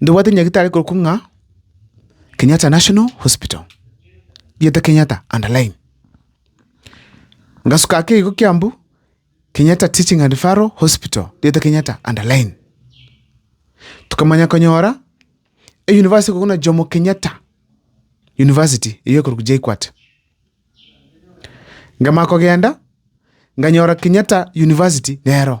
Ndobwate nyagetari ekorokwa ng'a Kenyatta National Hospital, rieta Kenyatta underline. Ngasuka ake igo Kiambu, Kenyatta Teaching and Referral Hospital, rieta Kenyatta underline. Tokamanya konyora eyunivasiti ekorokwa buna Jomo Kenyatta University, eyio ekorokwa JKUAT. Nkamanya kogenda, nkanyora Kenyatta University nero.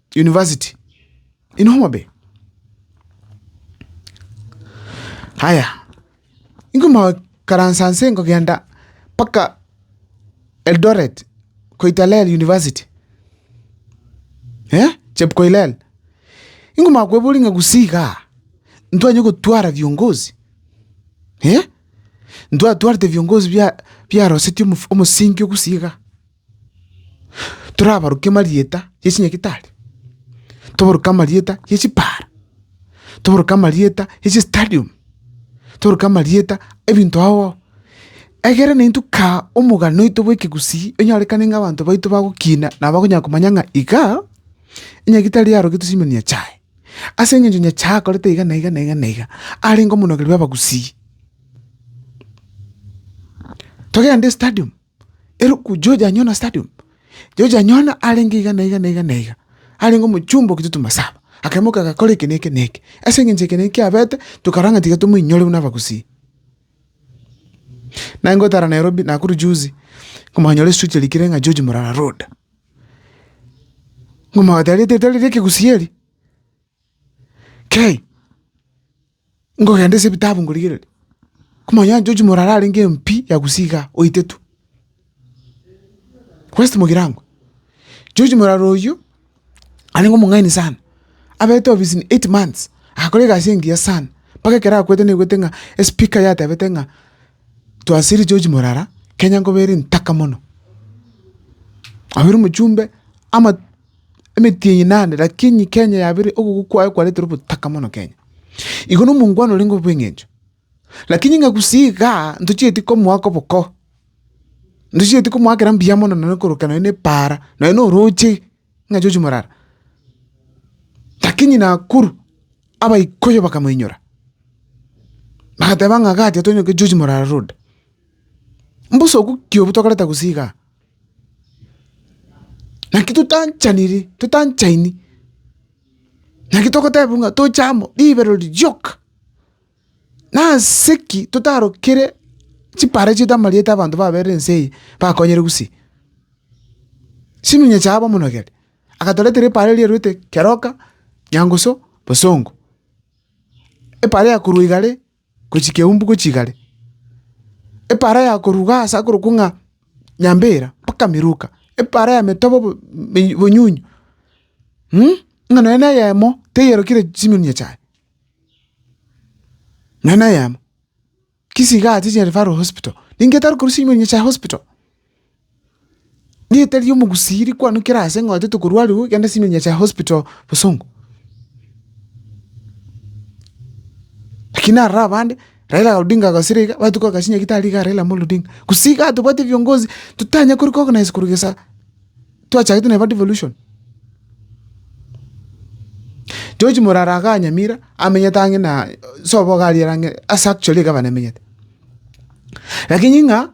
university in Homabay. Haya, inkomokaransa nse nkogenda mpaka Eldoret, Koitalel university, eh, Chepkoilel. Inkomanya kweboria ng'a gusii igaa, ntwanye gotwara viongozi? Eh, ntwatwarete viongozi bia biarosetie omof- omosingi o gusii igaa. torabarokie amarieta ye chinyagitari, tobarokie amarieta ye chibara, tobarokie amarieta ye chistadium, tobarokie amarieta ye ebinto ao ao, egere na intwe kaa omogano oito bwa ekegusii onyorekane ng'a abanto baito bagokina na bakonyara komanya ng'a iga, enyagitari yarogetwe chimiya na Nyachae. Ase eng'encho Nyachae akorete iga na iga na iga na iga, arenge omonogeri bw'abagusii. Togende estadium. eruku George Anyona Stadium. George Anyona arenge iga na iga na iga na iga, arenge omochumba o Kitutu Masaba, akaimoka agakora eke na eke na eke. Ase eng'encho eke na eke kiabete, tokarora ng'a tiga tomoinyore buna abagusii. Naye ngotara Nairobi, Nakuru juzi, nkomonyora esuit erikire ng'a George Murara Road. Nkomotebia rieta erio tari ria ekegusii eri? Kei, Nkogenda ase ebitabu nkorigereria, komanya onye George Morara arenge MP ya Gusii igaa, oetetwe. West Mogirangwa, George Morara oyio, arenge omong'aini sana, abete obisini eight months, agakora egasi engiya sana, mpaka ekero akwete naigwete ng'a espika yatebete ng'a twasirie George Morara, Kenya nkoba ere ntaka mono. Aye ore omochumbe ama. Emetienyi naende, lakini Kenya yabeire ogokwa kwaye kwaretire obotaka mono Kenya. Igo na omongwana orenge obo bw'eng'encho. Lakini ng'a gusii iga ntochieti komoa koboko, ntochieti komoa kera mbuya mono nonye korokera nonye ne epaara, nonye na orooche ng'a chochia morara. Lakini Nakuru, abaikoyo bakamoinyora, bagateba ng'a iga atia tonyoke chochia morara road. Mbosa obokio obo tokoreta gusii igaa. Naki totanchaniri, totanchaini, naki togoteba ng'a toche amo ribero rioka. Nase ki totarokire chipara chiaito amarieta abanto baberire ense eye bakonyire gusii? Chiminyia chiabo omonogere, agatoretera epara eria erwete keroka, nyangusu, bosongo. Epara eyakorwa igare. gochia keumbu gochia igare, epaara ya koruga aase akorokwa ng'a Nyambera mpaka Miruka, epaara ya metobo bo- mi- bonyunyu ng'a nonya neyemo teyerokire chimilimia chiaye, nonya neyemo. Kisiga achiche referral hospital, ningetari korwa chimilimia chia hospital. Rieta ri'omogusii rikwanokire aase ng'a oetete korwa aroro ogenda Senior Nyasae Hospital Bosongo. Lakini aroro abande, Raila Odinga agosire iga, bagachia kogasia Nyagetari igaa Raila Amolo Odinga. Gose igaa tobwate viongozi totanya kori ko organize korwa gesa twachagete neba devolution. George Morara igaa Nyamira, amenyete ang'e na sobo iga ariere ang'e ase actually egavana emenyete. Lakini ng'a.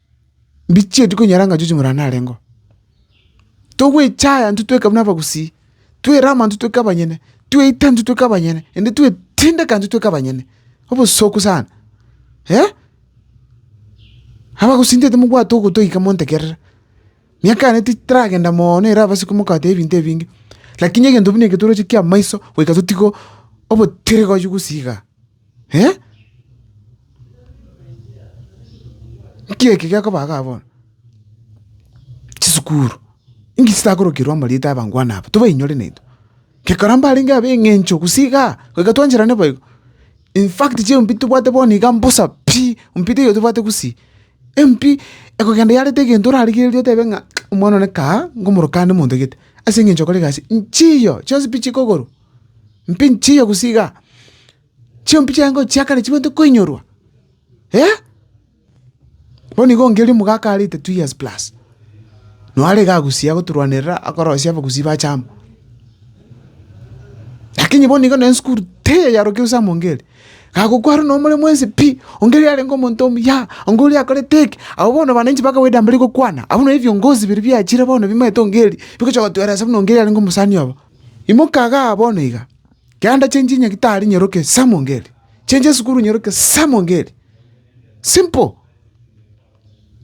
mbichieti konyora ng'a chionsi ng'ora narengeo. Togwechaya intwe tweka buna abagusii, twerama intwe tweka abanyene, tweita intwe tweka abanyene, naende twetindeka intwe tweka abanyene, obosooku sana abagusii ntaete mobwate ogotoika montegerere. Miaka yane titaragenda mooono ere abasiko mokagote ebinto ebinge, lakini egento buna eke toroche kia amaiso goika totiga obotiiri gosii igaa. Nki eke gekoba igaa bono? Chisukuru, inki chitakorokerwa amarieta y'abangwana aba? Tobainyore naintwe, gekara mbarenge ab'eng'encho gose igaa, goika twancherane bo igo. In fact chieyo mbi tobwate bono iga mbosa pi, mbi teiyo tobwate gose, embi ekogenda yareta egento orarigereria otebe ng'a omwana one kaa, nkomorokande monto gete, as'eng'encho okore egasi, nchiiyo chionsi pi chikogorwa. Mpi nchiche gusii igaa? Chimpi chiaye chia kare chibwenerete koinyorwa? Eeh! Bono igo ongeria omogaka arete two years plus, noo are iga gusii agotorwanerera akorosia abagusii bache amo. Lakini bono igo na esukuru teyaiyarokire gose amo ongerie, kagokwaa rende nomore mwensi pi, ongerie arenge omonto omuya, onga oria akorete eke, abwo bono abananchi ba kawaida mbari gokwana, abwo nabwo ebiongozi biria biachire bono bimaete ongerie, bigocha gotweresa buna ongerie arenge omosani obo. Imoka agaa bono iga, kianda chie nchinya gitari nyeroke esamo ngeri, chie chesukuru nyeroke esamo ngeri. Simple!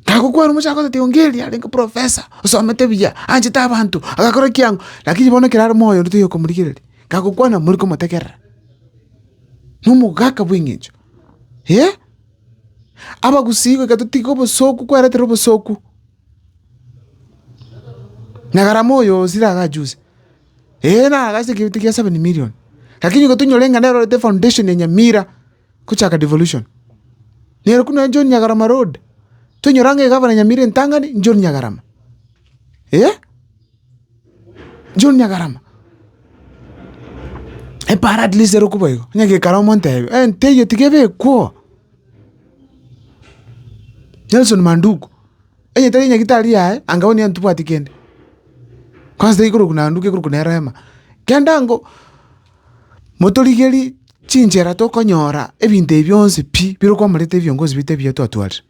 Nagokwana omochie agotetebi ongeri arenge professor, osomete buya, anchete abanto, agakora ekiang'u, lakini bono ekero are moyo onde toyokomorigereria. Kagokwana mori komotegerera, na omogaka bw'eng'encho. Ee, abagusii goika totige obosoku, kweretere obosoku. Na egarama oyo o Sira agachuse, ee, nagachete ekeegita kia seven million, lakini igo tonyore ng'a nere orete foundation ya Nyamira gochaka devolution. Nere korwa nonye John Nyagarama road, tonyora ng'a egavana ya Nyamira entang'ani John Nyagarama, eh, John Nyagarama. Epaara at least ere okwo boigo, onye gekara omonto ebe, enteiyo tiga ebe ekwo. Nelson Manduku, onye tari nyagetari yaye, anga onye ntibwati kende, kwanza tari korokwa na Manduku ekorokwa nere Rema. Kende ango, motorigerie chinchera tokonyora ebinto ebi bionsi pi, bire kwamoreta ebiongozi biaito ebiya twatwarire.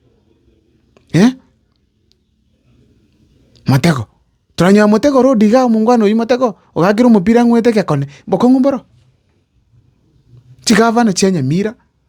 Motego, toranyora motego ore odiga iga omongwana oyio motego, ogakera omopira ang'wete egekone, bokong'u mboro, chigavana chia Nyamira.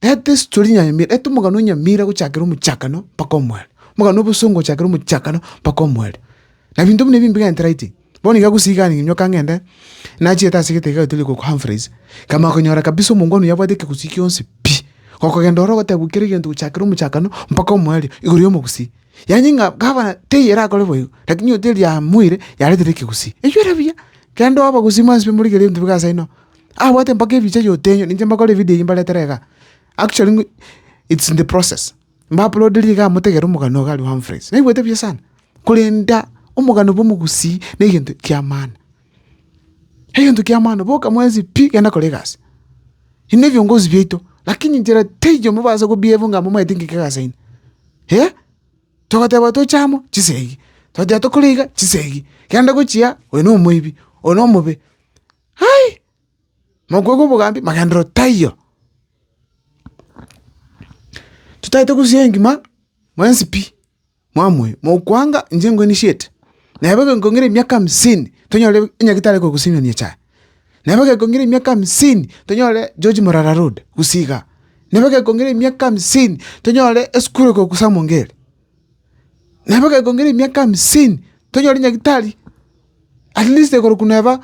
Eto esitori nyamira, eto omogano o nyamira gochakera omochakano mpaka omwero, omogano obosongo gochakera omochakano mpaka omwero. Na ebinto buna ebi mbiga entiraiti. Bono iga gosiiga ninyoka ng'ende, nachiete ase egetege egento riko Humphreys, nkamanya konyora kabisa omongwana oyo abwate ekegusii kionsi pi! Gokogenda ororo ogoteba bwekera egento gochakera omochakano mpaka omwerio igoro y'omogusii. Yaani ng'a gavana teiyo erakore boigo, lakini oyo teri riamoire yaretire ekegusii. Eywo ere buya, kende oba gosii mwansi pi morigererie ebinto biga ase ino. Abwate mpaka ebicha y'otenyo ninche mbakore evideo eyio mbaretere iga, actually ng'u it's in the process, mbaplodirie iga motegere omogani oga aria o Humphreys, naigwete buya sana, korenda omogani bwa omogusii na egento kia maana, egento kia maana, boka mwensi pi genda kora egasi, ebi ne ebiongozi biaito, lakini nchera teiyo mobaasa kobievu ng'a momaete ng'ika egasi yaino, eh, togoteba toche amo, chisa eyio, togoteba tokore iga, chisa eyio, genda gochia, oyo na omoibi, oyo na omobe. Ai! Mokwegwe obogambi, magenderero taiyo. Totaete gosusia engima mwensi pi, mwamoe, mokwanga inche ingo nishiete. Nabo egekongera emiaka hamsini, tonyore enyagitari ekoroka Simeon echa. Nabo egekongera emiaka hamsini, tonyore George Morara Road, gose iga. Nabo egekongera emiaka hamsini, tonyore esukuru ekoroku Samongeri. Nabo gekongera emiaka hamsini, tonyore nyagetari, at least korokwa neba,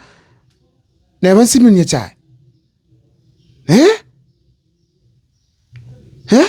neba nsimeri nyasae, eh? Eh?